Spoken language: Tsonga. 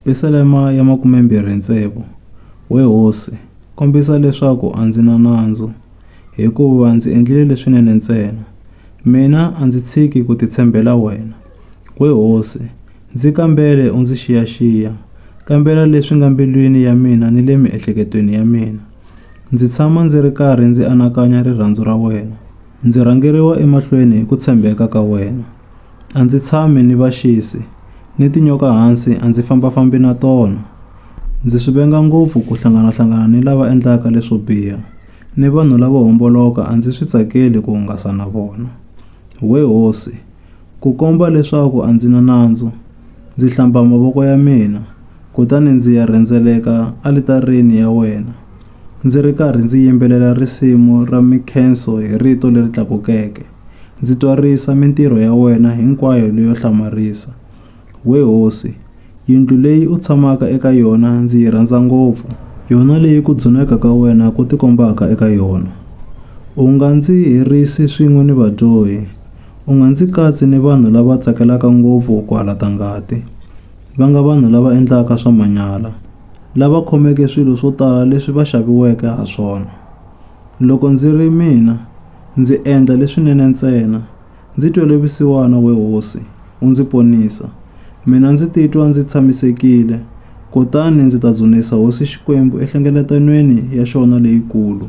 Pisalema ya makumembirhi ntsevu We hosi, kombisa leswaku a ndzi na nandzu, hikuva ndzi endlile leswinene ntsena. Mina a ndzi tshiki ku titshembela wena. We hosi, ndzi kambele u ndzi xiyaxiya, kambela leswi nga mbilwini ya mina ni le miehleketweni ya mina. Ndzi tshama ndzi ri karhi ndzi anakanya rirhandzu ra wena, ndzi rhangeriwa emahlweni hi ku tshembeka ka wena. A ndzi tshami ni vaxisi, ni tinyoka hansi a ndzi famba-fambi na tona. Ndzi swi venga ngopfu ku hlangana-hlangana ni lava endlaka leswo biha, ni vanhu lavo homboloka a ndzi swi tsakeli ku hungasa na vona. We hosi, ku komba leswaku a ndzi na nandzu, ndzi hlamba mavoko ya mina, kutani ndzi ya rhendzeleka alitarini ya wena, ndzi ri karhi ndzi yimbelela risimu ra minkhenso hi rito leri tlakukeke. Ndzi twarisa mintirho ya wena hinkwayo leyo hlamarisa. We hosi, yindlu leyi u tshamaka eka yona ndzi yi rhandza ngopfu, yona leyi ku dzuneka ka wena ku tikombaka eka yona. U nga ndzi herisi swin'we ni vadyohi, u nga ndzi katsi ni vanhu lava tsakelaka ngopfu ku halata ngati, va nga vanhu lava endlaka swa manyala, lava khomeke swilo swo tala leswi va xaviweke ha swona. Loko ndzi ri mina, Ndzi endla leswinene ntsena. Ndzi twele vusiwana, we Hosi, u ndzi ponisa. Mina ndzi titwa ndzi tshamisekile, kutani ndzi ta dzunisa Hosi Xikwembu enhlengeletanweni ya xona leyikulu.